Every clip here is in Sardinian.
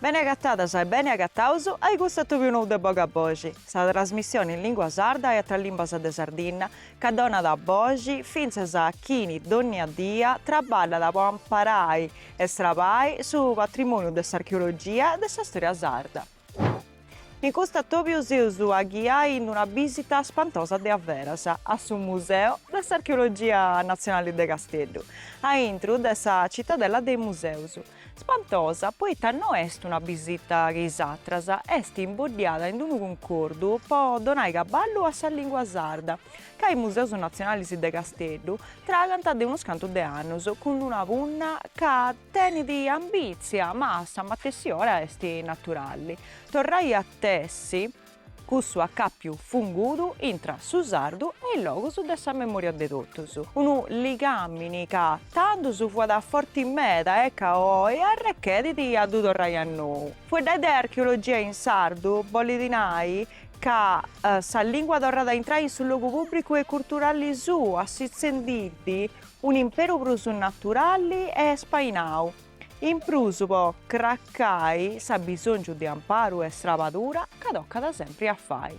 Bene agatadas e bene agataus ai custu atobiu nou de Boga a Boxi, sa trasmissione in lingua sarda e atras limbas de Sardigna ca donat boxi fintzas a chini dònnia dia traballat po amparai e strabai su patrimòniu de s'archeologia e de sa stòria sarda. In custu atobiu seus a ghiai in una bìsita spantosa de a veras a su Museu de s'Archeologia Natzionale de Casteddu, a intru de sa citadella de is museus. Spantosa poita no est una bìsita che is atras, est imboddiada in unu cuncordu po donai caballu a sa lìngua sarda, ca is museus natzionalis de Casteddu tragant de unus cantu de annus cun una punna ca tenit ambìtzia ma a sa matessi ora est naturali, torrai a tessi cussu acàpiu fungudu intra su sardu e is logus de sa memòria de totus, unu ligàmini ca tandus fuat forti meda e ca oi arrechedit a ddu torrai a nou. Fueddai de archeologia in sardu bolit nai ca sa lìngua torrat a intrai in su logu pùbricu e culturali suu, assitzendiiddi un imperu prus naturalli e espainau. In prus po cracai s'abbisòngiu de amparu e strabadura ca tocat sempri a fai.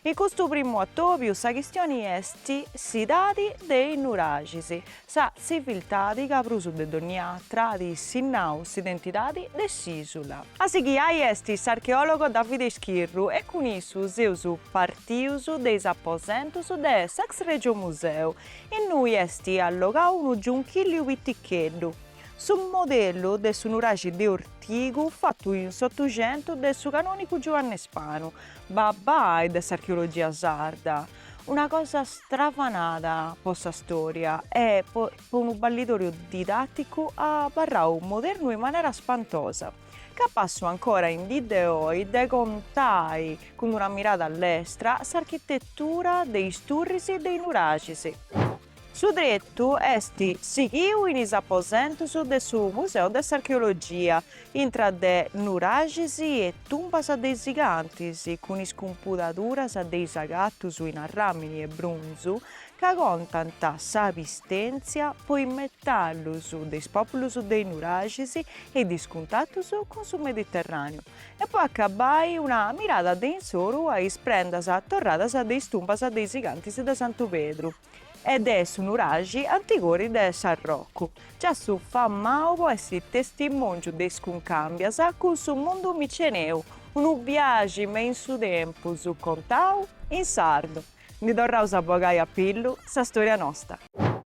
In custu primu atòbiu sa chistioni est s'edadi de is nuraxis Sa tziviltadi ca prus de dònnia atra at sinnau s'identidadi de s'ìsula. A si ghiai est s'archeòlogo Davide Schirru e cun issu seus partius de is aposentus de s'ex Règiu Museu, innui est allogau unu giunchilliu piticheddu, su modellu de su nuraxi de Ortigu fatu in s'Otuxentu de su canònigu Giuanne Spanu, babbai de s'archeologia sarda. Una cosa stravanada po sa storia e po unu balidòriu didatticu abarrau modernu in manera spantosa. Capassu ancora in dì de oi de contai cun una mirada lestra s'architettura de is turris de is nuraxis. Su tretu est sighiu in is aposentus de su Museu de s'Archeologia, intra de nuraxis e tumbas de is gigantis, cun is cumpudaduras de is agatus in arràmini e brunzu ca contant sa pistèntzia po is metallus de is pòpulus de is nuraxis e de is cuntatus cun su Mediterràneu. E po acabai una mirada de incoru a is prendas torradas de is tumbas de is gigantis de Santu Pedru e de su nuraxi Antigori de Sarroch, giassu famau po essi testimòngiu de is cuncàmbias cun su mundu miceneu, unu biaxi me in su tempus contau in sardu. Ndi torraus a bogai a pillu sa storia nosta.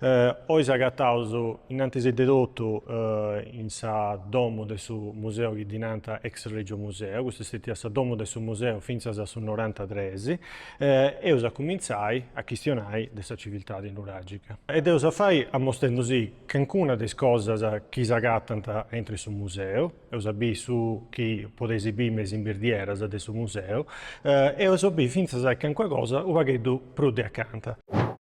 Oi s'agataus innantis de totu in sa domu de su museu chi ddi nant ex Regio Museo, custa est stètia sa domu de su museu fintzas a su norantatres, eus a cumintzai a chistionai de sa civiltadi nuragica. E dd'eus a fai amostendusì calincuna de is cosas chi s'agatant aintru 'e su museu. Eus a biri su chi podeis biri me is imbirdieras de su museu e eus a biri fintzas calincuna cosa u' pagheddu prus de acanta.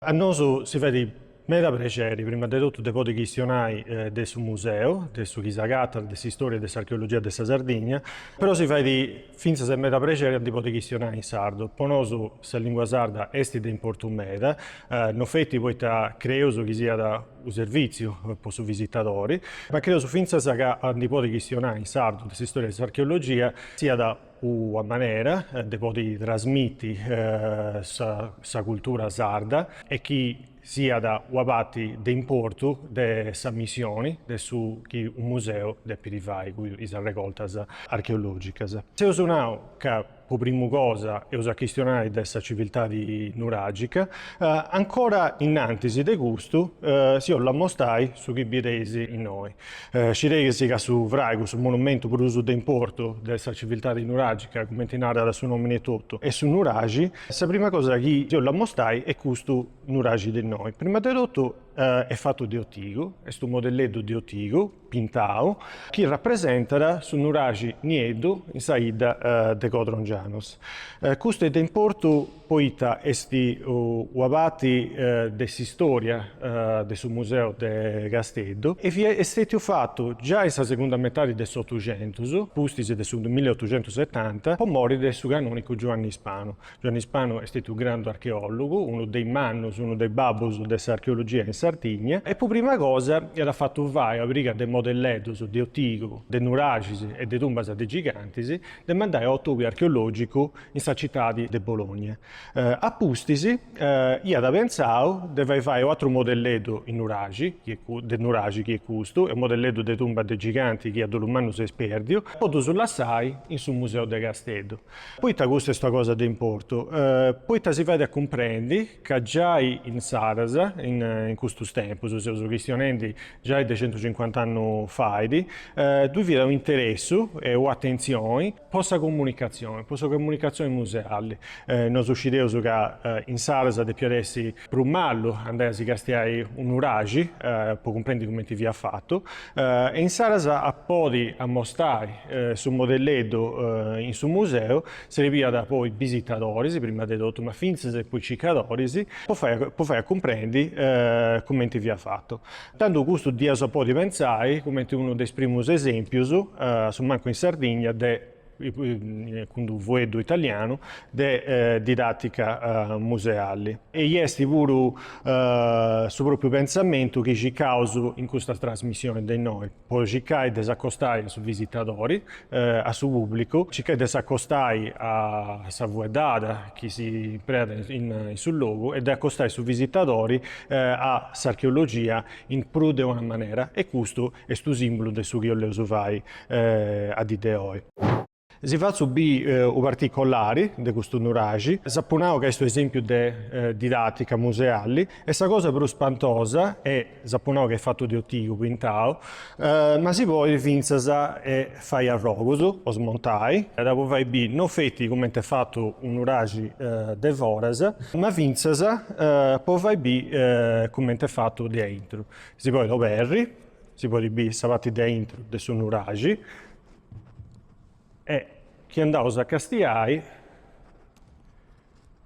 A nosu si fait meda prexeri prima de totu de podi chistionai de su museu, de su chi s'agatat, de s'istoria e de s'archeologia de sa Sardigna, però si fait fintzas meda prexeri a ndi podi chistionai in sardu. Po nosu sa lingua sarda est de importu meda, no feti poita creus chi siat unu servìtziu po su visitadori, ma creus fintzas ca a ndi podi chistionai in sardu de s'istòria de s'archeologia siat una manera de podi trasmiti sa cultura sarda e chi siat una parti de importu de sa missioni de su chi unu museu depit fai cun is arregortas archeologicas. Eus nau ca po primu cosa eus a chistionai de sa civiltadi nuragica, ancora innantis de custu si 'ollu ammostai su chi bideis innoi. Scideis ca su fraigu, su monumentu prus de importu de sa civiltadi nuragica, cumenti narat su nomini etotu, est su nuraxi, sa prima cosa chi si 'ollu ammostai est custu nuraxi de innoi. Prima de totu est fatu de otigu, est unu modelleddu de otigu, pintau, chi rapresentat su nuraxi nieddu in sa 'idda de Codrongianus. Custu est de importu poita est una parti de s'istòria de su museu de Casteddu e fiat stètiu fatu giai in sa segunda metadi de s'Otuxentus, pustis de su milliotuxentusetanta, po mori de su canònicu Giuanni Ispanu. Giuanni Spano est stetiu grandu archeòlogu, unu de is mannus, unu de is babbus de s'archeologia in Sardigna, e po prima cosa iat fatu fai una pariga de modelleddus de otigu, de nuraxis e de tumbas de gigantis, de mandai a un'atòbiu archeològicu in sa citadi de Bologna. A pustis iat pentzau de fai fai u' atru modelleddu in nuraxi, de nuraxi, chi est custu, e u' modelleddu de tumba de giganti chi a dolu mannu est pèrdiu, po ddus lassai in su museu de Casteddu. Poita custa est una cosa de importu? Poita si fait a cumprendi ca giai insaras, in custus tempus, seus chistionendi giai de centucincuant'annus fait, ddui fiat un'interessu e u'atentzioni po sa comunicatzioni, po sa comunicatzioni museali. Nosu scideus ca insaras depiat essi prus malu andai a si castiai unu nuraxi po cumprendi cumenti fiat fatu e insaras a podi ammostai su modelleddu in su museu serbiat po is bisitadoris prima de totu ma fintzas po is circadoris po fai a cumprendi cumenti fiat fatu. Tandu custu dd'iaus a podi pentzai cumenti unu de is primus esempius a su mancu in Sardigna de cun d'unu fueddu italianu, de didàtica museali. E est puru su pròpiu pentzamentu chi circaus in custas trasmissionis de innoi, po circai de s'acostai a su visitadori, a su pùblicu, circai de s'acostai a sa fueddada chi s'impreat in su logu e de acostai su visitadori a s'archeologia in prus de una manera e custu est unu simbulu de su chi 'olleus fai a dì de oi. Si fatzu bì u particolari de custu nuraxi, s'apu nau ca est u esempiu de didatica museali e sa cosa prus spantosa e s'apu nau ca est fatu de ortigu pintau, ma si podit fintzas fai arrogus o smontai, po fai bì no feti cumenti est fatu u nuraxi de foras, ma fintzas po fai bì cumenti est fatu de aintru. Si podit oberri si podit biri sa parti de aintru de su nuraxi e chi andaus a castiai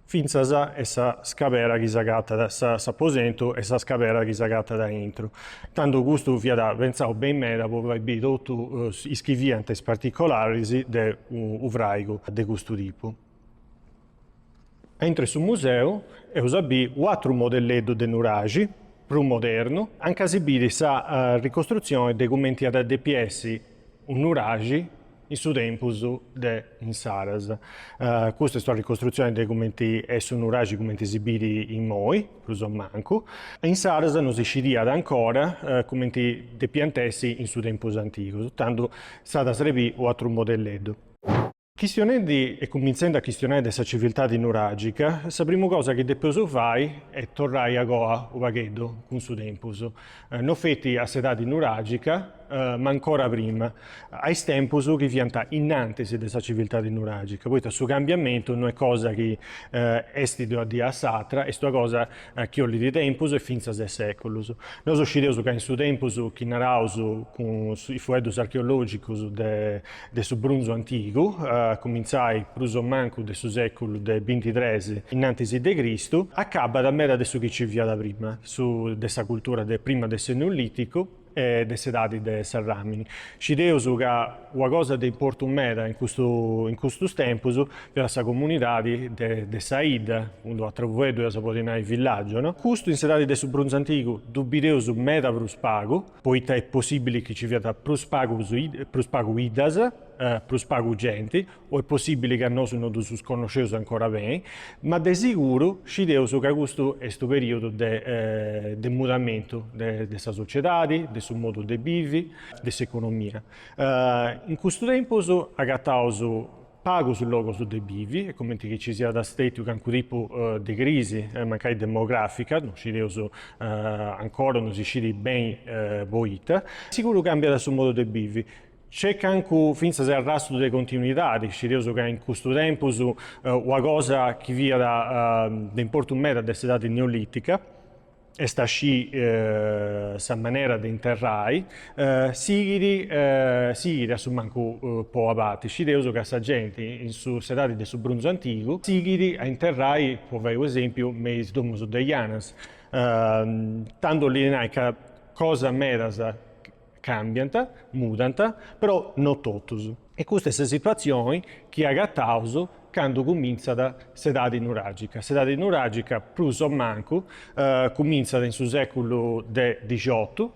fintzas sa scabera chi s'agatat, s'aposentu e sa scabera chi s'agatat aintru. Tandu custu fiat pentzau beni meda po fai biri totu is chi fiant is particolaris de u' fraigu de custu tipu. Aintru de su museu eus a bì u'atru modelleddu de nuraxi, prus modernu, anca si bit sa ricostrutzioni de cumenti iat a depi essi unu nuraxi in su tempus de insaras. Custa est una ricostrutzioni de cumenti est su nuraxi cumenti si bit imoi, prus o mancu. Insaras no si scidiat ancora cumenti depiant essi in su tempus antigu, tandu s'at a srebì u'atru modelleddu. Chistionendi e cuminzendi a chistionai de sa civiltadi nuragica, sa primu cosa chi depeus fai est torrai a goa u pagheddu cun su tempus, no feti a s'edadi nuragica, ma ancora prima, a is tempus chi fiant innantis de sa civiltadi nuragica, poita su cambiamentu no est cosa chi est de una dì a s'atra, est una cosa chi ollit tempus e fintzas seculus. Nosu scideus ca in su tempus chi naraus cun is fueddus archeologicus de de su brunzu antigu, a cumintzai prus o mancu de su sèculu de binti tres innantis de Cristu, acabat meda de su chi nci fiat prima, su de sa cultura de prima de s'Eneolìticu e de s'edadi de s'arràmini. Scideus ca una cosa de importu meda in custu in custus tempus fiat sa comunidadi de de sa 'idda, cun d-unu atru fueddu eus a podi nai villàgiu, no? Custu in s'edadi de su brunzu antigu ddu bideus meda prus pagu, poita est possibili chi ci fiat prus pagu prus pagu 'iddas, prus pagu genti, o est possibili ca nosu no ddus connosceus ancora beni, ma de siguru scideus ca custu est unu perìodu de de mudamentu de sa sociedadi, de su modu de bivi, de s'economia. In custu tempus agataus pagus logos de bivi e cumenti chi ci siat stètiu cancu tipu de crisi, mancai demogràfica, no scideus, ancora no si scidit beni poita, siguru càmbiat su modu de bivi, nc'est cancu fintzas arrastru de continuidadi, scideus ca in custu tempus una cosa chi fiat de importu meda de s'edadi neolìtica, est a scì sa manera de interrai, sighit sighit a su mancu po abati, scideus ca sa genti in su s'edadi de su brunzu antigu sighit a interrai, po fai unu esempiu, me is domus de janas, tando 'oli nai ca cosas medas Càmbiant, mudant, però no totus. E custa est sa situatzioni chi agataus candu cumintzat s'edadi nuràgica. S'edadi nuràgica prus o mancu cumintzat in su sèculu de dixotu,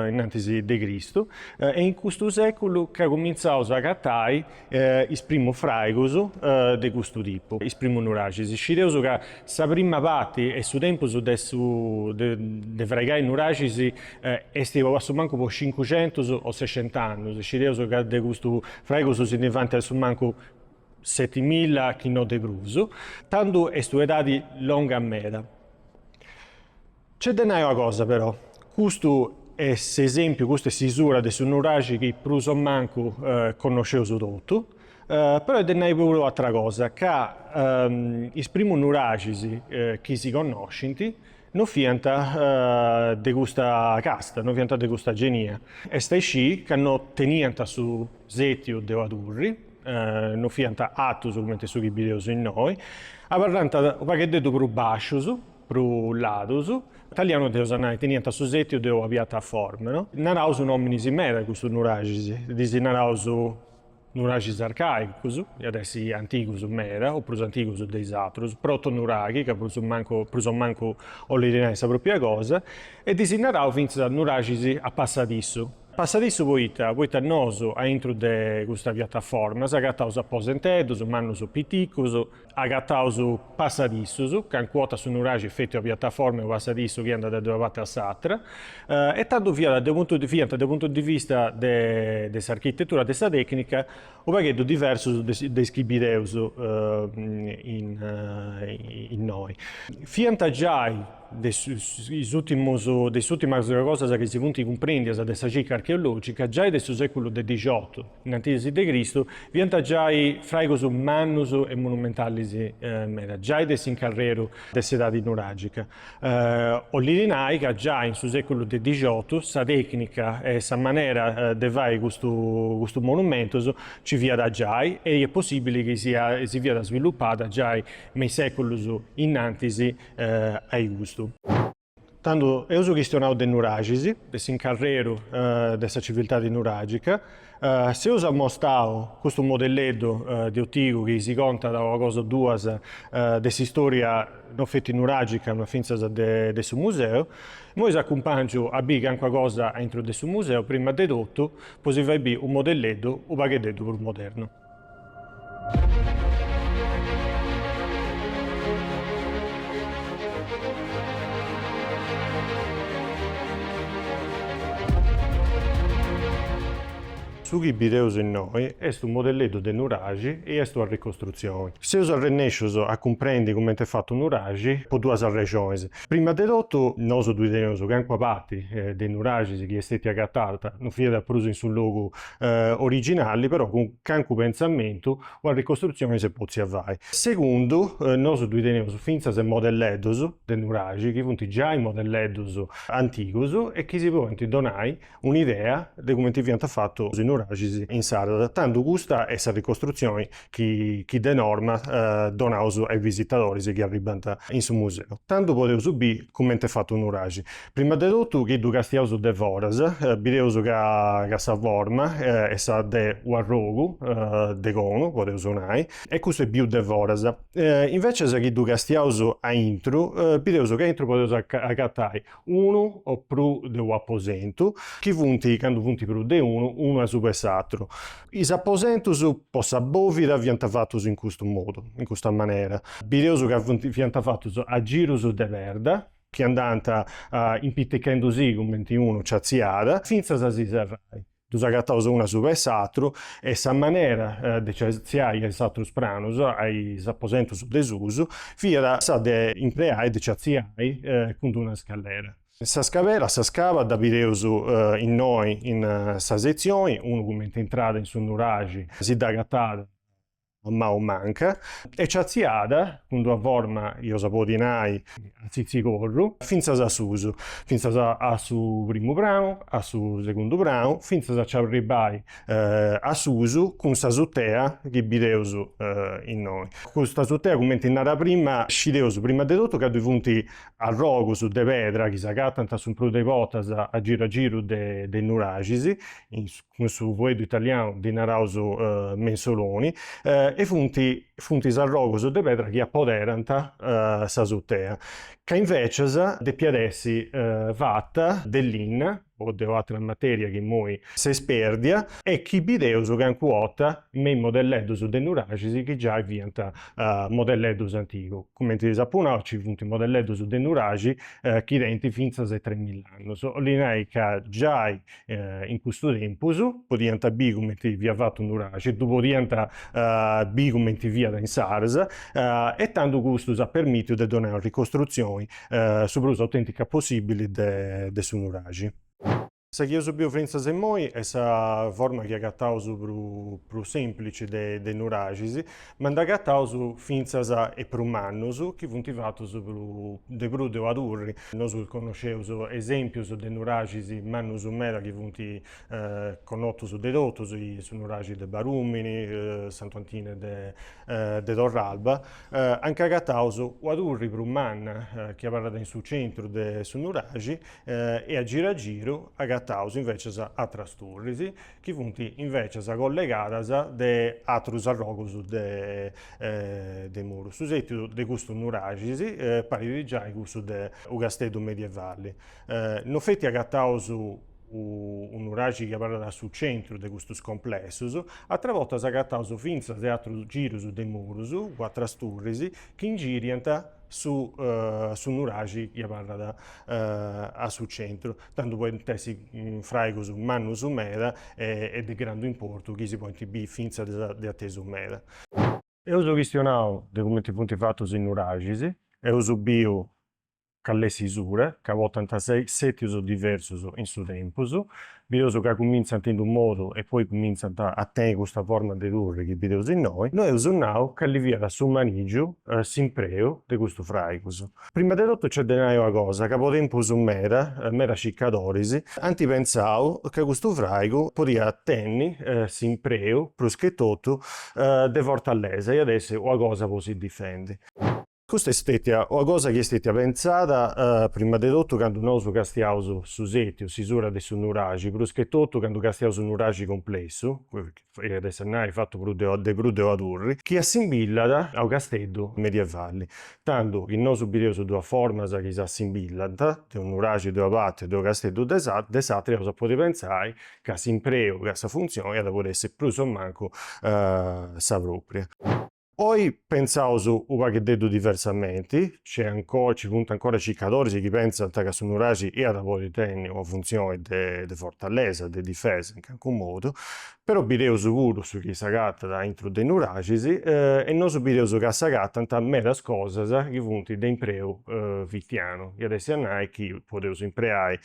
innantis de Cristu, est in custu sèculu ca cumintzaus a agatai is primus fràigus de custu tipu, is primus nuraxis. Scideus ca sa prima parti e su tempus de su de fraigai nuraxis est a su mancu po cincucentus o sescent'annus, scideus ca de custus fràigus si ndi faint a su mancu setimilla chi no de prus, tando est u' edadi longa meda. Nc'est de nai una cosa però, custu est s'esempiu, custa est s'isura de su nuraxi chi prus o mancu connosceus totu, però est de nai puru una atra cosa, ca is primus nuraxis chi si connoscint no fiant de custa casta, no fiant de custa genia, est a isci ca no teniant su sètiu de una turri, no fiant atus cumenti su chi bideus innoi, abarrant u' paghededdu prus bàscius, prus ladus. Italianu dd'eus a nai, teniant su setiu de una piataforma, no. Naraus nòminis meda custus nuraxis, ddis naraus nuraxis arcàicus, iat a essi antigus meda o prus antigus de is atrus, protonuraxi, ca prus mancu prus o mancu 'olit nai sa pròpria cosa, e ddis naraus fintzas nuraxis a passadissu. Passadissu poita, poita nosu, aintru de custa piataforma, s'agataus aposenteddus mannus o piticus, agataus passadissus, cancua borta su nuraxi est feti una piataforma e unu passadissu chi andat de una parti a s'atra, e tandu fiat de puntu de fiant de puntu de vista de de s'architetura de sa tecnica u pagheddu diversus de de is chi bideus innoi. Fiant giai de is ultimus de is ultimas cosas chi si funt cumprendias de sa circa archeologica giai de su seculu de dixiotu, innantis de Cristu, fiant giai fraigus mannus e monumentalis meda, giai de s'incarreru de s'edadi nuragica. 'Olit nai ca giai in su seculu de dixotu sa tecnica e sa manera de fai custus monumentus nci fiat giai e est possibili chi si fiat svilupada giai me is seculus innantis a custu. Tandu eus chistionau de nuraxis, de s'incarreru de sa civiltadi nuragica, s'eus ammostau custu modelleddu de otigu chi si contat una cosa o duas de s'istoria no feti nuragica ma fintzas de su museu, immoi si acumpangiu a bì cancuna cosa a intro de su museu, prima de totu po si fai bì u modelleddu u pagheddeddu prus modernu. Su chi bideus innoi est unu modelleddu de nuraxi e est una ricostrutzioni. Seus arrennescius a cumprendi cumenti est fatu u nuraxi po duas arrexonis. Prima de totu, nosu ddui teneus calincuna parti de nuraxis chi est stètia agatada, no fiat prus in su logu originali però cun cancu pentzamentu una ricostrutzioni s'est potzia fai. Segundu, nosu ddui teneus fintzas modelleddus de nuraxi chi funt giai modelleddus antigus e chi si podint donai un'idea de cumenti fiant fatus is nuraxis insaras, tandu custa est sa ricostrutzioni chi de norma donaus a is visitadoris chi arribant in su museu. Tandu podeus bì cumenti est fatu unu nuraxi. Prima de totu chi ddu castiaus de foras, bideus ca sa forma est sa de u' arrogu de conu, podeus nai, e custu est biu de foras. Invecias chi ddu castiaus aintru, bideus ca aintru podeus agatai unu o pru de u'aposentu, chi funt, candu funt prus de unu, unu asuba 'e s'atru. Is aposentus po sa bòvida fiant fatus in custu modu, in custa manera, bideus ca fiant fatus a girus de perda, chi andànt impitichendi-si cumenti unu nci atziàt, fintzas a si serrai. Ddus agataus unu asuba 'e s'atru e sa manera de nci atziai a is atrus pranus, a is aposentus de susu, fiat sa de impreai de nci atziai cun d'una scallera. Sa scabera, sa scaba dda bideus innoi in sa setzioni, unu cumenti intràt in su nuraxi si dd'agatàt, a manu manca, e nci atziàt, cun d'una forma, iaus a podi nai, a tzitzicorru, fintzas a susu, fintzas a su primu pranu, a su segundu pranu, fintzas a nci arribbai a susu, cun s'asutea chi bideus innoi. Cust'asutea, cumenti nara prima, scideus prima de totu ca ddoi funt arrogus de pedra chi s'agatant a su prus de bortas a giru a giru de nuraxis, in cun su fueddu italianu ddi naraus mensoloni, e funt funt is arrogus de pedra chi apoderant s'asutea, ca invecias depiat essi fata de linna o de u'atra materia chi imoi s'est perdia e chi bideus calincuna 'orta me is modelleddus de nuraxis chi giai fiant modelleddus antigus, cumenti ddis apu nau nci funt modelleddus de nuraxi chi tenint fintzas e tres mill'annus, 'olli nai ca giai in cussu tempus, podiant biri cumenti fiat fatu u nuraxi, ddu podiant biri cumenti fiat insaras e tando custu s'at permitiu de donai una ricostrutzioni su prus autentica possibili de su nuraxi. Sa chi eus biu fintzas immoi est sa forma chi agataus prus semplici de nuraxis Ma nd'agataus fintzas 'e prus mannus chi funt fatus de prus de una turri. Nosu connosceus esèmpius de nuraxis mannus meda chi funt connotus de totus, su nuraxi de Barùmini, Santu Antine de Torralba, anca agataus una turri prus manna chi abarrat in su centru de su nuraxi e a giru a giru agataus invècias atras turris. chi funt invècias collegadas de atrus arrogus de muru. Su sètidu de custu nuraxis parit giai cussu de u casteddu medievali. No feti agataus u nuraxi chi abarrat a su centru de custus complessus, atra bortas agataus fintzas de atrus girus de murus, cun atras turris, chi ingiriant su nuraxi chi abarrat a su centru. tando podint essi fraigus mannus meda e de grandu importu chi si podint bì fintzas de atesu meda. Eus chistionau de cumenti funt fatus is nuraxis, eus biu cal'est s'isura ca portant sètius diversus in su tempus, bideus ca cumintzant in d'unu modu e poi cumintzant a tenni custa forma de turri chi bideus innoi, no eus nau cali fiat su manigiu, s'impreu de custus fraigus. Prima de totu nc'est de nai una cosa, ca po tempus meda, medas circadoris ant pentzau ca custu fràigu podiat tenni s'impreu prus che totu de fortalesa, iat essi una cosa po si difendi. Custa est stètia una cosa chi est stètia pentzada prima de totu candu nosu castiaus su sètiu, s'isura de su nuraxi, prus che totu candu castiaus su nuraxi complessu, iat a essi a nai fatu prus de de prus de una turri, chi assimbillat a unu casteddu medievali, tandu chi nosu bideus duas formas chi s'assimbillant, de unu nuraxi de una parti e de unu casteddu de s'atra, eus a podi pentzai ca s'impreu e ca sa funtzioni iat a podi essi prus o mancu sa propria. Oi pentzaus u' pagheddeddu diversamenti, nc'est ancora, nci funt ancora circadoris chi pentzant ca su Nuraxi iat a podi tenni una funtzioni de fortalesa, de difesa in calincunu modu, però bideus puru su chi s'agatat aintru de is Nuraxis e nosu bideus ca s'agatant medas cosas chi funt de impreu fitianu, iat a essi a nai chi podeus impreai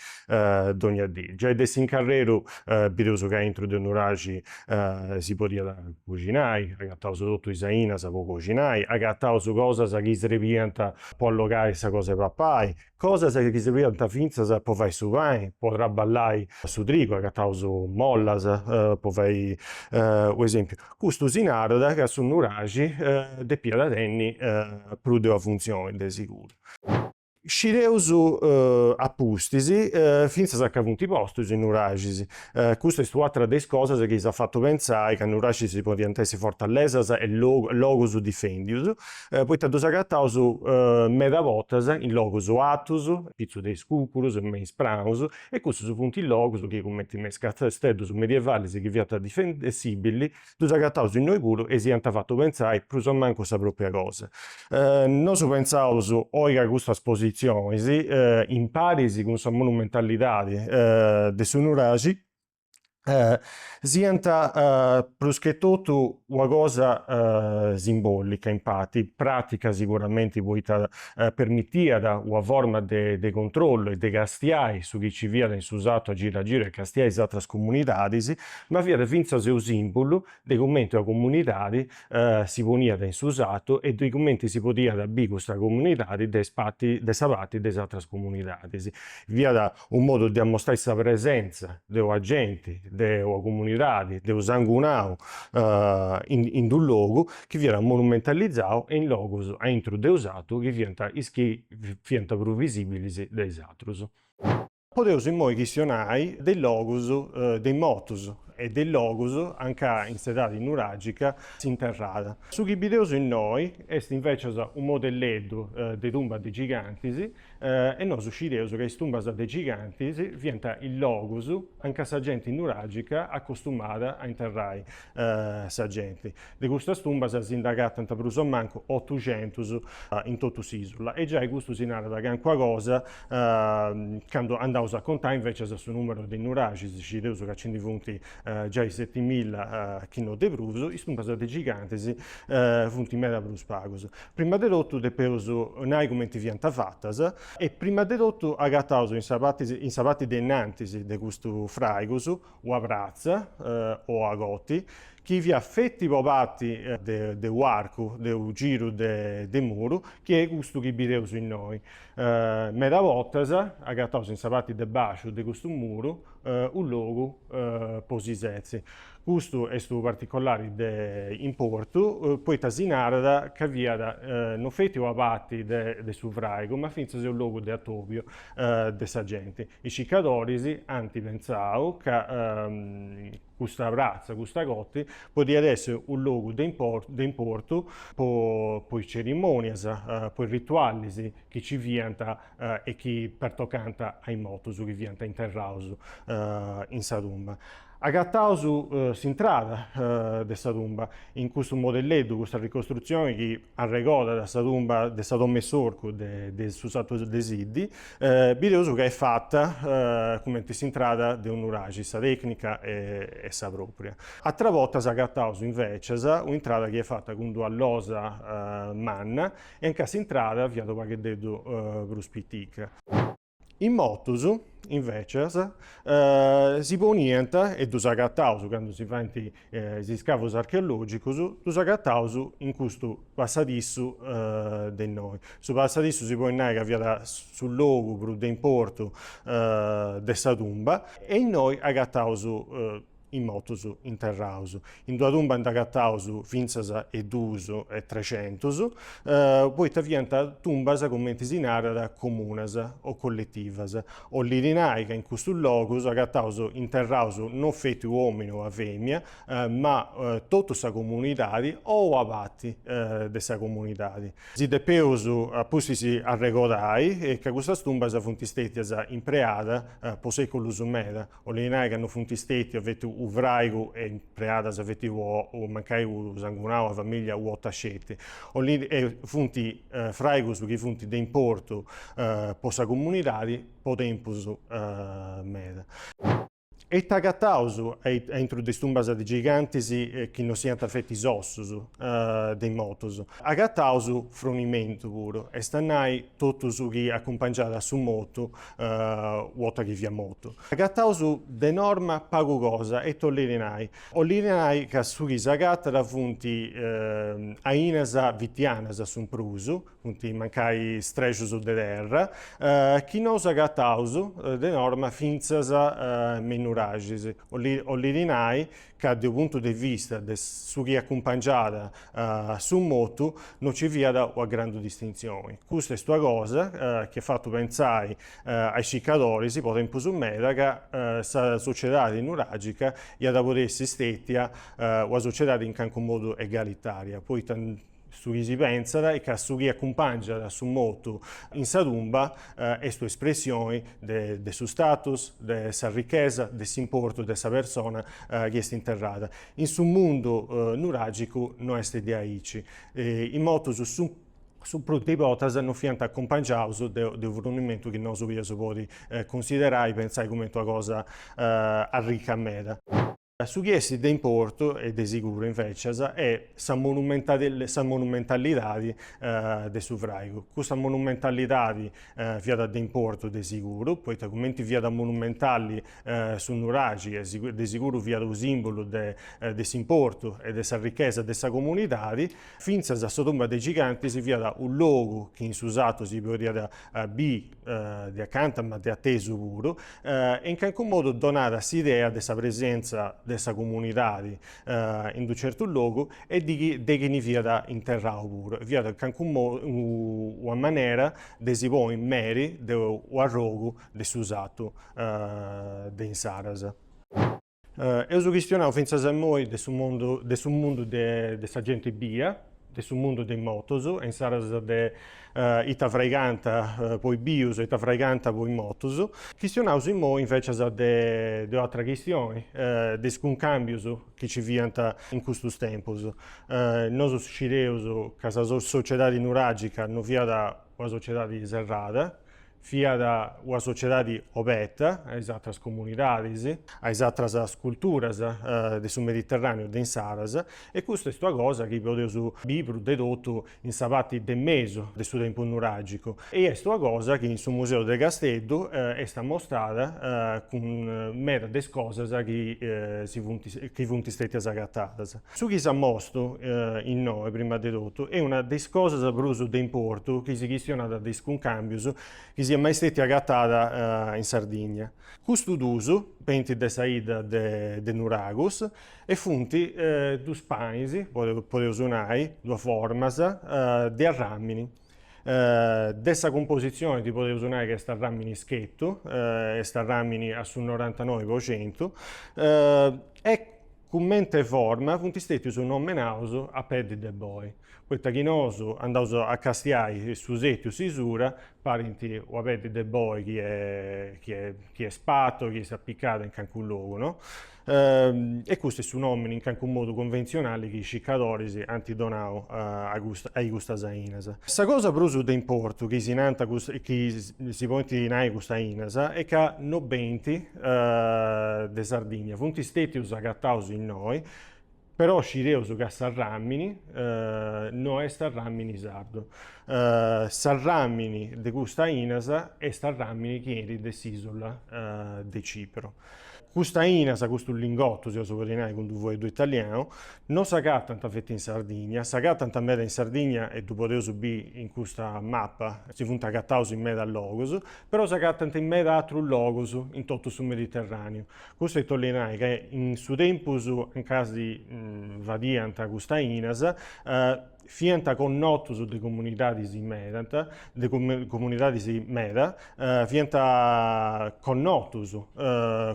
dogna dì, giai de s'incarreru bideus ca aintru de Nuraxi si podiat coxinai, agataus totu is ainas po coxinai, agataus cosas chi srebiant po allogai sa cosa 'e papai, cosas chi srebiant fintzas po fai su pani, po traballai su trigu, agataus mollas po fai u' esempiu. Custu si narat ca su nuraxi depiat tenni prus de una funtzioni de siguru. Scideus a pustis, fintzas aundi funt postus is Nuraxis. Custa est u'atra de is cosas chi si at fatu pentzai ca is Nuraxis podiant essi fortalesas e logus difendius, poita ddus agataus meda bortas in logus atus, pitzus de is cucurus, me is praus, e cussus funt logus chi cumenti me is casteddus medievalis chi fiant difendìbilis Ddus agataus innoi puru e si iant fatu pentzai prus o mancu sa pròpria cosa. Nosu pentzaus oi ca custas positzionis, imparis cun sa monumentalidadi de su Nuraxi, siant pruschetotu una cosa simbòlica, in parti, pràtica siguramenti poita permitiat una forma de controllu e de castiai su chi nci fiat in su sartu a giru a giru e castiai is atras comunidadis. ma fiat fintzas e u sìmbulu de cumenti una comunidadi si poniat in su sartu e de cumenti si podiat biri custa comunidadi de de sa parti de is atras comunidadis. Fiat unu modu de amostai sa presentza de una genti, de una comunidadi, de unu sangunau in d'unu logu chi fiat monumentalizau e in logus aintru de u' sartu chi fiant is chi fiant prus visìbilis de is atrus. Podeus immoi chistionai de is logus de is mortus e de is logus anca in s'edadi nuragica s'interràt. Su chi bideus innoi est invecias u modelleddu de tumbas de gigantis e nosu scideus ca is tumbas de gigantis fiant is logus anca sa genti nuragica acostumàt a interrai sa genti. De custas tumbas si nd'agatant prus o mancu otuxentus in totu s'ìsula e giai custu si narat cancuna cosa candu andaus a contai invècias su nùmeru de nuraxis, scideus ca nci ndi funt giai setimilla chi no de prus, is tumbas de gigantis funt meda prus pagus. Prima de totu depeus nai cumenti fiant fatas e prima de totu agataus in sa parti de innantis de custus fràigus Ua pratza, ua cotti, chi fiat feti ua parti de u'arcu de u giru de muru, chi est custu chi bideus innoi. Meda bortas agataus in sa parti de bàsciu de custu muru u logu po si setzi. Custu est unu particolari de importu poita si narat ca fiat no feti ua parti de su fràigu, ma fintzas e u logu de atobiu. de sa genti. Is cicadoris ant pentzau ca custa pratza, custa cotti, podiat essi u' logu de de importu po po is cerimonias, po is ritualis chi ci fiant e chi pertocànt a is mortus chi fiant interraus in sa tumba. Agataus s'intrada de sa tumba, in custu modelleddu, custa ricostrutzioni chi arregodat a sa tumba de sa domu 'e s'orcu de su sartu de Siddi, bideus ca est fata cumenti s'intrada de u nuraxi, sa tècnica est sa pròpria. Ateras bortas agataus invècias un'intrada chi est fata cun d'ua losa manna e anca s'intrada fiat u' pagheddeddu prus pitica. Is mortus, invècias, si poniant, e ddus agataus candu si faint is iscavus archeològicus, ddus agataus in custu passadissu de innoi. Su passadissu si podit nai ca fiat su logu prus de importu de sa tumba e innoi agataus in motus interraus. In d'una tumba nd'ant agataus fintzas e duus e trexentus, poita fiant tumbas, cumenti si narat, comunas o colletivas, 'olit nai ca in custus logus agataus interraus non feti u' omini o a femina, ma totu sa comunidadi o una parti de sa comunidadi. Si depeus a pustis arregodai ca custas tumbas funt stetias impreadas po seculus meda, 'olit nai ca no funt stètius feti u' fràigu e impreadas, feti u' o mancai u' sangunau a famìllia u'ota sceti. Olint e funt fràigus chi funt de importu po sa comunidadi po tempus meda. Ita agataus aintru de is tumbas de gigantis chi no siant feti is ossus de is motus? Agataus frunimentu puru, est a nai totu su chi acumpangiat a su motu u'ota chi fiat mortu. Agataus de norma pagu cosa, e it'ollit nai? Ollit nai ca su chi s'agatat funt ainas fitianas su prus, funt mancai strexus de terra, chi nous agataus de norma fintzas me is nuraxis, ollit nai ca de u' puntu de vista de su chi acumpangiat su motu no nci fiat una grandu distintzioni. Custa est una cosa chi at fatu pentzai a is circadoris po tempus meda ca sa sociedadi nuragica iat a podi essi stètia una sociedadi in calincunu modu egalitaria, poita Su chi si pentzat est ca su chi acumpàngiat su motu in sa tumba est un'espressioni de su status, de sa richesa, de s'importu de sa persona chi est interrada. In su mundu nuràgicu no est diaici. Is motus su prus de bortas no fiant acumpangiaus de unu frunimentu chi nosu podiaus podi cunsiderai, pentzai cumenti una cosa arrica meda. Su chi est de importu, e de siguru invècias, est sa sa monumentalidadi de su fràigu. Custa monumentalidadi fiat de importu de siguru, poita cumenti fiat monumentali su nuraxi e de siguru fiat unu sìmbulu de de s'importu e de sa richesa de sa comunidadi, fintzas sa tumba de is Gigantis fiat unu logu chi in su sartu si podiat biri de acanta ma de atesu puru, e in calincunu modu donat s'idea de sa presentza de sa comunidadi in d'unu certu logu e de chini fiat interrau puru, e fiat in calincunu modu una manera de si ponni meri de u' arrogu de su sartu de insaras. Eus chistionau fintzas a immoi de su mundu de su mundu de de sa genti bia, de su mundu de is motus e insaras de ita fraigant po is bius e ita fraigant po is motus. Chistionaus immoi invecias de de u'atra chistioni, de is cuncàmbius chi nci fiant in custus tempus. Nosu scideus ca sa sociedadi nuragica no fiat una sociedadi serrada, Fiat una sociedadi obeta a is atras comunidadis, a is atras culturas de su Mediterraneu de insaras e custa est una cosa chi podeus biri prus de totu in sa parti de mesu de su tempus nuragicu e est una cosa chi in su museu de Casteddu est amostrada cun medas de is cosas chi si funt chi funt stètias agatadas. Su chi s'amostu innoe, prima de totu, est una de is cosas prus de importu chi si chistionaus de is cuncàmbius chi siat mai stètia agatada in Sardigna. Custus dus benint de sa 'idda de Nuragus e funt dus panis, podeus nai, duas formas, de arràmini. De sa cumpositzioni si podeus nai chi est arràmini schetu, est arràmini a su norantanoi po centu e Cumente forma funt stètius nomenaus a peddi de boi, poita chi nosu andaus a castiai su sètiu, sa bisura, parint una peddi de boi chi chi est spatu, chi est apicada in calincunu logu, no? E custu est su nòmini in calincunu modu cunventzionali chi is circadoris ant donau a custa a i custas ainas. Sa cosa prus de importu chi si nant chi si podint nai custas ainas est ca no benint de Sardigna funt stètius agataus innoi, però scideus ca s'arràmini no est arràmini sardu. S'arràmini de cust'ainas est arràmini chi 'enit de s'ìsula de Cipru. Cust'ainas, custus lingotus, si 'oleus nai cun d-u' fueddu italianu, no s'agatant feti in Sardigna, s'agatant meda in Sardigna e ddu podeus biri in custa mapa, si funt agataus in medas logus, Però s'agatant in meda atrus logus in totu su Mediterràniu. Custu 'olli nai ca in su tempus anca si fadiant cust'ainas fiant connotus de comunidadis medant, de comunidadis meda, fiant connotus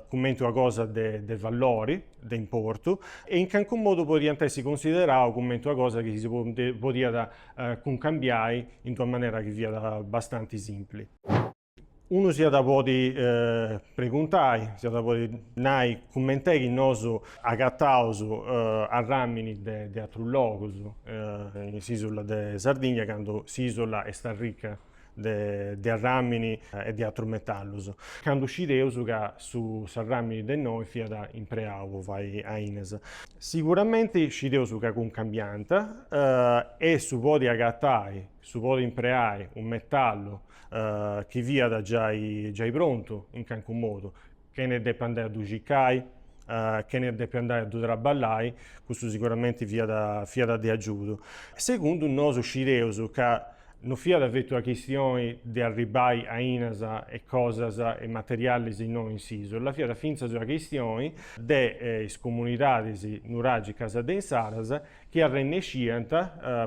cumenti una cosa de vallori, de importu e in calincunu modu podiant essi cunsideraus cumenti una cosa chi si podiat cuncambiai in una manera chi fiat bastanti simpli. Unu si at a podi preguntai, si at a podi nai cumenti est chi nosu agataus arràmini de atrus logus in s'isula de Sardigna candu s'isula est arrica de, de arràmini e de atrus metallus. Candu scideus ca su s'arràmini de innoi fiat impreau po fai ainas. Siguramenti scideus ca cuncambiant e su podi agatai, su podi impreai unu metallu chi fiat giai, giai prontu in calincu modu, chene depi andai a ddu cicai, chene depi andai a ddu traballai, custu siguramenti fiat fiat de agiudu. Segundu nosu scideus ca no fiat fetu una chistioni de arribai ainas e cosas e materialis innoi in s'isula, fiat fintzas una chistioni de is comunidadis nuragicas de insaras, chi arrennesciant,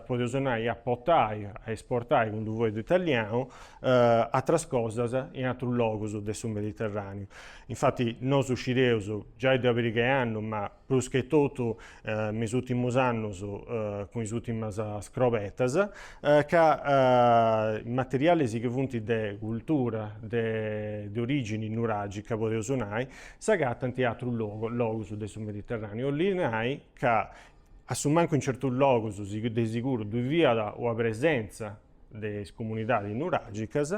podeus nai, a potai, a esportai cun unu fueddu italianu, atras cosas in atrus logus de su Mediterraniu. Infati nosu scideus, giai de calincu annu, ma prus che totu me is urtimus annus cun is urtimas scrobetas, ca materialis chi funt de cultura, de origini nuragica, podeus nai, s'agatant in atrus logus de su Mediterraniu. Olli nai, ca a su mancu in certus logus de siguru ddu fiat una presenza de is comunidadis nuragicas,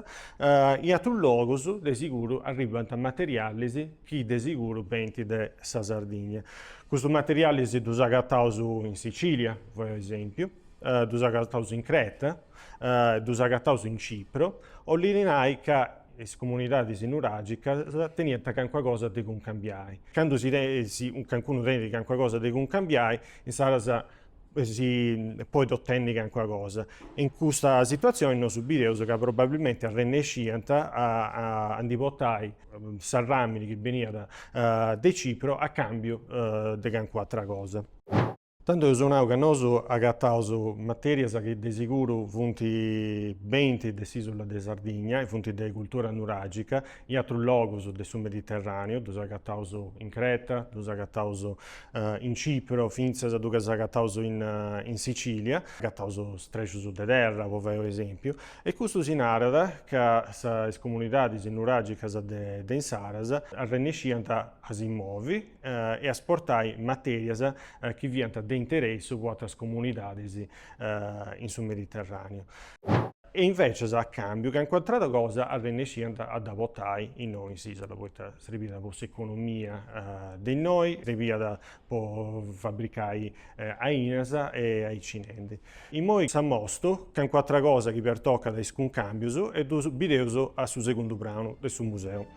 in atrus logus de siguru arribant materialis chi de siguru benint de sa Sardigna. Custus materialis ddus agataus in Sicilia, po esempiu, ddus agataus in Creta, ddus agataus in Cipro, 'ollit nai ca is comunidadis nuragicas teniant calincuna cosa de cuncambiai. Candu si calincunu tenit calincuna cosa de cuncambiai, insaras si podit otenni calincuna cosa. In custa situatzioni nosu bideus ca probabilmenti arrennesciant a ndi portai s'arràmini chi beniat de Cipro a càmbiu de calincuna atra cosa. Tando eus nau ca nosu agataus materias chi de siguru funt benint de s'isula de Sardigna e funt de cultura nuragica, in atrus logus de su Mediterraneu, ddus agataus in Creta, ddus agataus in Cipro, fintzas ddus agataus in Sicilia, agataus strexus de terra po fai un'esempiu, e custu si narat ca is comunidadis nuragicas de insaras arrennesciant a si movi, e a esportai matèrias chi fiant de interessu po atras comunidadis in su Mediterràneu. E invece a càmbiu calincuna atra cosa arrennesciant a dda portai innoi in s'ìsula, poita srebiat po s'economia de innoi, srebiat po fabricai ainas e aicinendi. Imoi s'amostu calincuna atra cosa chi pertocat a is cuncàmbius e ddu bideus a su segundu pranu de su museu.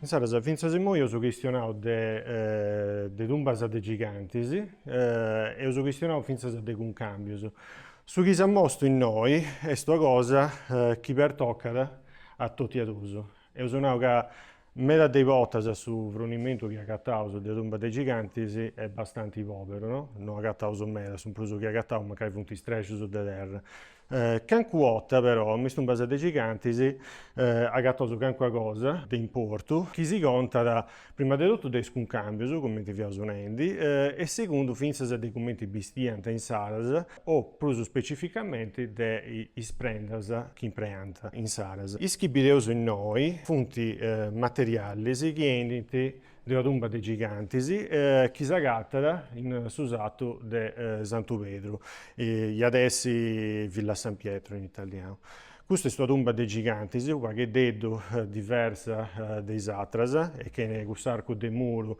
Insaras fintzas immoi eus chistionau de de tumbas de gigantis e eus chistionau fintzas de cuncàmbius. Su chi si mostu innoi est una cosa chi pertocat a totu a dus. Eus nau ca meda de bortas su frunimentu chi agataus de tumbas de gigantis est bastanti poberu, no agataus meda, su prus chi agataus mancai funt istrexus de terra. Cancu 'otta però, in is tumbas de gigantis, agataus cancuna cosa de importu, chi si contat prima de totu de is cuncàmbius, cumenti fiaus nendi, e segundu fintzas de cumenti bistiant insaras, o prus specificamenti de is prendas chi impreant insaras. Is chi bideus innoi funt materialis chi 'enint de una tumba de gigantis chi s'agatat in su satu de Santu Pedru, iat essi Villa San Pietro in italianu. Custa est una tumba de gigantis, u' pagheddeddu diversa de is atras e chene cuss'arcu de muru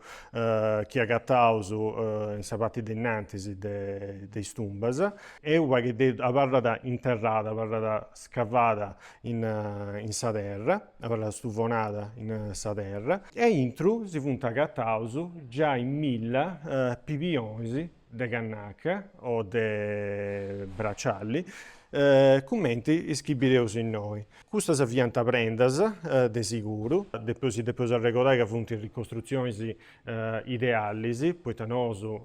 chi agataus in sa parti de innantis de is tumbas. E u' pagheddeddu abarrat interrada, abarrat scavada in sa terra. abarrat stuvonada in sa terra, e intru si funt agataus giai milla pibionis de cannaca o de bracialli, cumenti is chi bideus innoi. Custas fiant prendas, de siguru, depeus arregodai ca funt ricostrutzionis idealis, poita nosu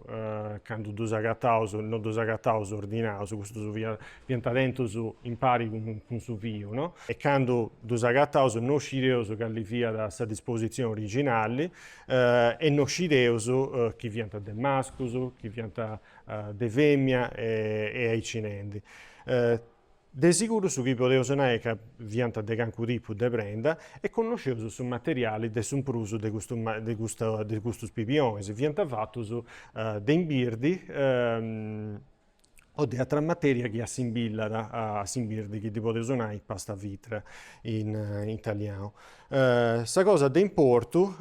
candu ddus agataus no ddus agataus ordinaus, custus fiant tentus impari cun su fiu, no? E candu ddus agataus no scideus cali fiat sa dispositzioni originali e no scideus chi fiant de mascus, chi fiant de fèmina e aici nendi. De siguru su chi podeus nai ca fiant de cancu tipu de prenda e connosceus su materiali de su prus de custus pibionis, fiant fatus de imbirdi o de atera materia chi assimbillat a s'imbirdi chi ddi podeus nai pasta vìtrea in italianu. Sa cosa de importu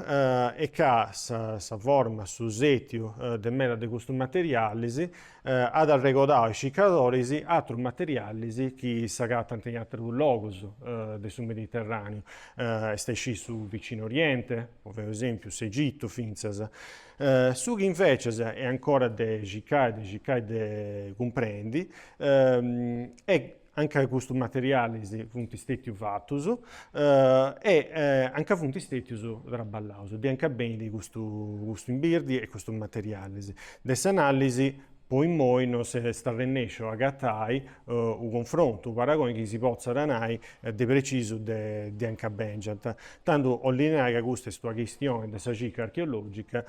est ca sa forma, su setiu de meda de custus materialis at arregodau a is circadoris atrus materialis chi s'agatant in atrus logus de su Mediterràneu, est a scì su Vicinu Oriente, po fai u' esèmpiu, s'Egitu fintzas. Su chi invècias est ancora de circai, de circai de cumprendi, est a nca custus materialis funt stètius fatus e a nca funt stètius traballaus, de a nca benit custu custu imbirdi e custus materialis. De s'analisi po immoi no s'est arrennesciu a agatai u' confrontu, u' paragoni chi si potzat nai de precisu de a nca bèngiant, tando 'olli nai ca custa est una chistioni de sa circa archeologica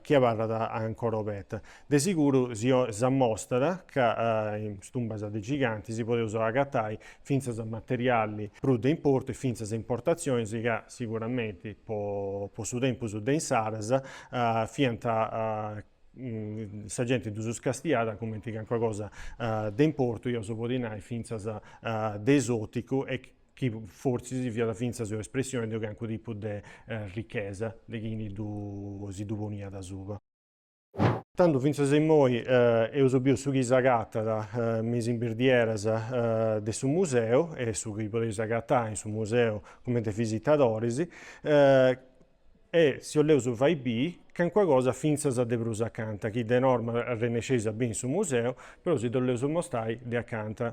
chi abarrat ancora obeta. De siguru si ammostat ca in is tumbas de gigantis podeus agatai fintzas materiali prus de importu e fintzas importatzionis ca siguramenti po po su tempus de insaras fiant sa genti ddus castiat cumenti calincuna cosa de importu, eus podi nai fintzas de esoticu e chi fortzis fiat fintzas una espressioni de calincunu tipu de richesa de chini ddu si ddu poniat asuba. Tando fintzas a immoi eus biu su chi s'agatat me is imbirdieras de su museu e su chi podeis agatai in su museu cumenti visitadoris e si 'oleus fai biri calincuna cosa fintzas de prus acanta chi de norma arrennesceis a biri in su museu, però si dd'oleus mostai de acanta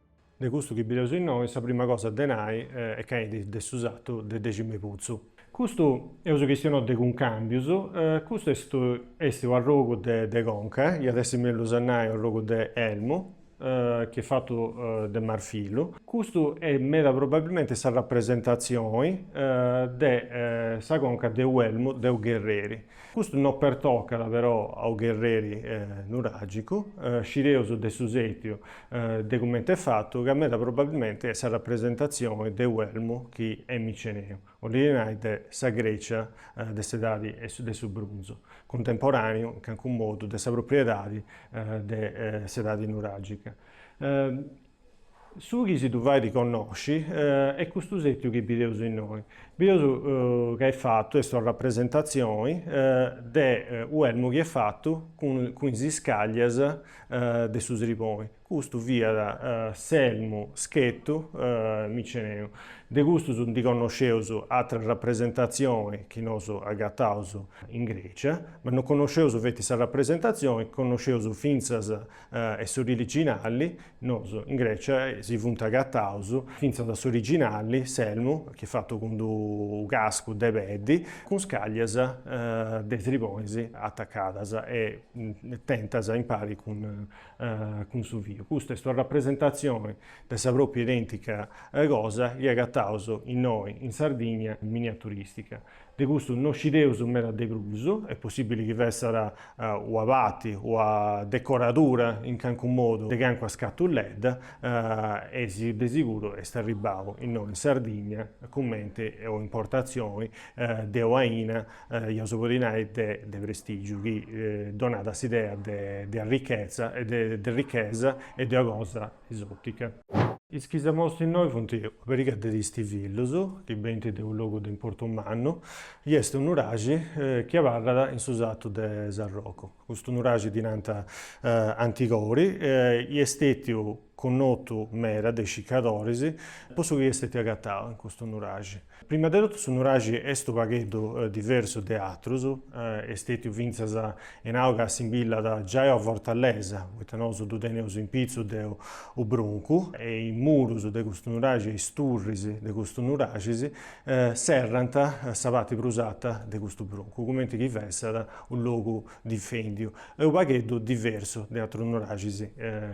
De custu chi bideus innoi, sa prima cosa de nai est ca est de su satu de Deximeputzu. Custu eus chistionau de cuncàmbius, custu est est u arrogu de de conca, iat essi mellus a nai u arrogu de elmu, chi est fatu de marfillu. Custu est meda probabilmenti sa rapresentatzioni de sa conca de u elmu de u gherreri. Custu no pertocat però a u gherreri nuragicu, scideus de su setiu de cumenti est fatu ca meda probabilmenti est sa rapresentatzioni de u elmu chi est miceneu, 'olit a nai de sa Grecia de s'edadi de su brunzu, cuntemporàneu in cancu modu de sa propriu edadi de s'edadi nuragica. Su chi si ddu fait connosci est custu sètiu chi bideus innoi. Bideus ca est fatu, est sa rapresentatzioni de u' elmu chi est fatu cun is iscàllias de su sriboni. Custu fiat s'elmu schetu miceneu. De custus ndi connosceus atras rapresentatzioni chi nosu agataus in Grècia, ma non connosceus feti sa rapresentatzioni, connosceus fintzas e s'originali, nosu in Grecia si funt agataus fintzas a s'originali, s'elmu, chi est fatu cun d'u cascu de peddi, cun iscaglias de sribonis atacadas e tentas impari cun cun su fiu. Custa est una rapresentazioni de sa propriu identica cosa chi agataus innoi in Sardigna, miniaturistica. De custu no scideus meda de prus, est possibili chi fessat una parti, una decoradura in cancu modu de cancua scatuledda e si de siguru est arribbau innoi in Sardigna cumenti una importatzioni de un'aina, iaus a podi nai, de prestigiu chi donat s'idea de arrichezza, de ricchesa e de una cosa esòtica. Is chi s'amostu innoi funt una periga de tistivillus chi benint de unu logu de importu mannu, chi est unu nuraxi chi abarrat in su satu de Sarrocu. Custu nuraxi ddi nant Antigori, chi est stètiu connotu meda de is circadoris po su chi est stètiu agatau in custu nuraxi. Prima de totu su nuraxi est unu pagheddu diversu de atrus, est stètiu fintzas nau ca simbillat giai una fortalesa, poita nosu ddu teneus in pitzus de u bruncu, e is murus de custu nuraxi e is turris de custus nuraxis serrant sa parti prus arta de custu bruncu, cumenti chi fessat u logu difèndiu, est u pagheddu diversu de atrus nuraxis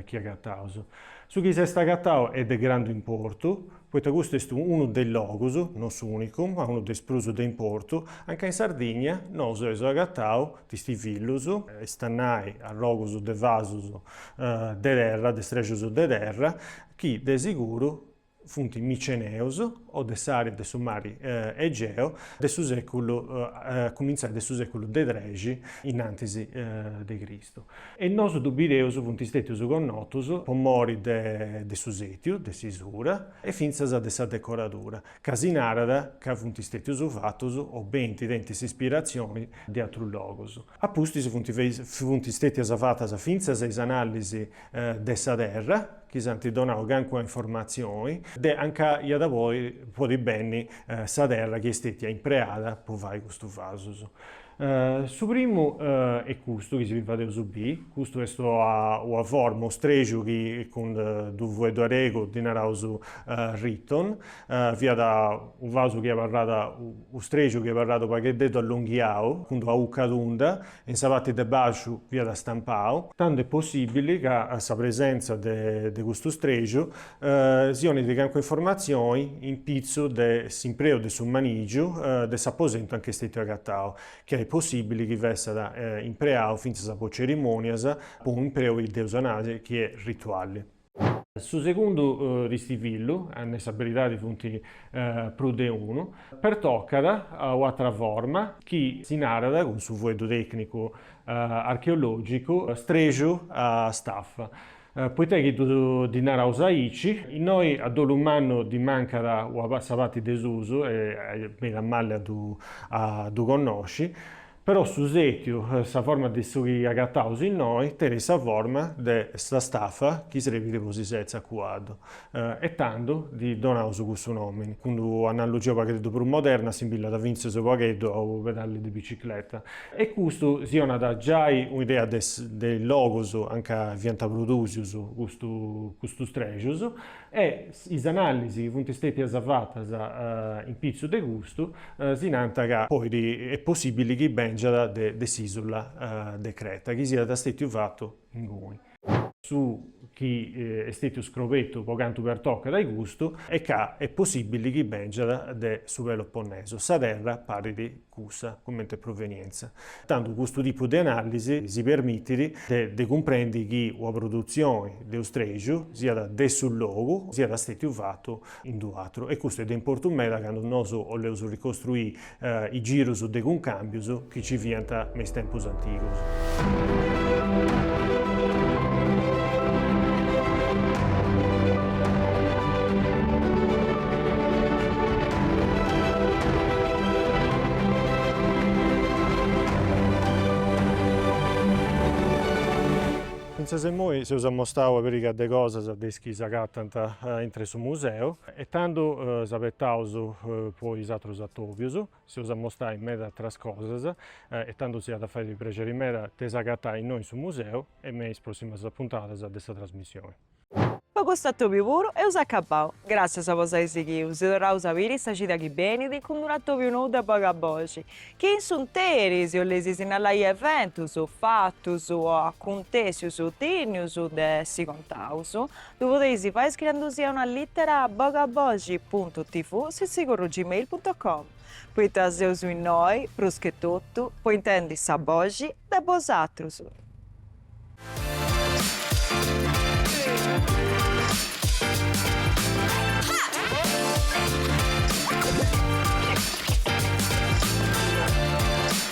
chi agataus. Su chi s'est agatau est de grandu importu, poita custu est unu de is logus, no s'unicu, ma unu de is prus de importu, a nca in Sardigna nosu eus agatau tistivillus, est a nai arrogus de vasus de terra, de strexus de terra, chi de siguru funt miceneus o de s'àrea de su mari Egeu de su seculu, a cumintzai de su seculu de trexi in antis de Cristu. E nosu ddu bideus funt stètius connotus po mori de de su sètiu, de s'isura, e fintzas de sa decoradura, ca si narat ca funt stètius fatus o benint tenint s'ispiratzioni de atrus logus. A pustis funt funt stètias fatas fintzas is anàllisi de sa terra, chi s'ant donau calincuna informatzioni de a nca iat podi podi benni sa terra chi est stètia impreada po fai custus vasus. Su primu est custu chi si fadeus bii, custu est ua ua forma, unu strexiu chi cun d'u fueddu aregu ddi naraus riton, fiat u vasu chi abarrat, u strexiu chi abarrat u pagheddeddu allonghiau cun d'ua ucca tunda e in sa parti de baxu fiat stampau, tand'est possibili ca sa presenza de de custu strexiu si donit calincuna informatzioni in pitzu de s'impreu de su manìgiu de s'aposentu a nca est stètiu agatau, chi est possìbili chi fessat impreau fintzas po cerimònias po unu impreu chi dd'eus a nai chi est rituali. Su segundu tistivillu, a nai sa beridadi funt prus de unu, pertocat a un'atra forma chi si narat, cun su fueddu tècnicu archeològicu, strexu a stafa. Poita chi ddu ddi naraus aici, innoi a dolu mannu ddi mancat una parti de susu e benit malli a ddu connosci, però su sètiu, sa forma de su chi agataus innoi, tenit sa forma de sa stafa chi srebit po si setzi a cuaddu. E tando dhi donaus cussu nomini. Cun d'un'analogia u pagheddeddu prus moderna simbillat fintzes u pagheddu a u pedalli de bicicleta. E custu si 'onat giai un'idea de de is logus a nca fiant produsius custu custus trexus e is anallisi chi funt stetias fatas in pitzu de custu si nant ca poi est possibili chi bengiat de de s'isula de Creta chi siat stetiu fatu inguni. su chi est stètiu scrobetu po cantu pertocat a i custu, est ca est possibili chi bèngiat de su Peloponnesu, sa terra parit cussa comente provenientza. Tantu custu tipu de analisi si permitit de de cumprendi chi una produtzioni de ustreju, siat de su logu, siat stètiu fatu in d'u atru, e custu est de importu meda candu nosu 'oleus ricostruì i girus de cuncàmbius chi ci fiant me is tempus antigus. Fintzas immoi seus amostau una pariga de cosas de is chi s'agatant intr'e su museu. E tando s'abetaus po is atrus atobius, s'eus a amostai meda atras cosas e tando si at a fai prexeri meda de s'agatai innoi in su museu e me is prossimas puntadas de sa trasmissioni. Po custu atobiu puru eus acabau. Gràssias po s'ai sighiu, si torraus a biri sa cida chi benit cun unu atobiu nou de boga boxi. Chi in s'unteri si 'olleis sinnallai eventus, fatus o acuntessius dignius de essi contaus, Ddu podeis fai scriendusia una lìtera a bogaboxi puntu tivu chiocciola gmail puntu com, poita seus innoi, prus che totu, po intendi sa boxi de bosatrus.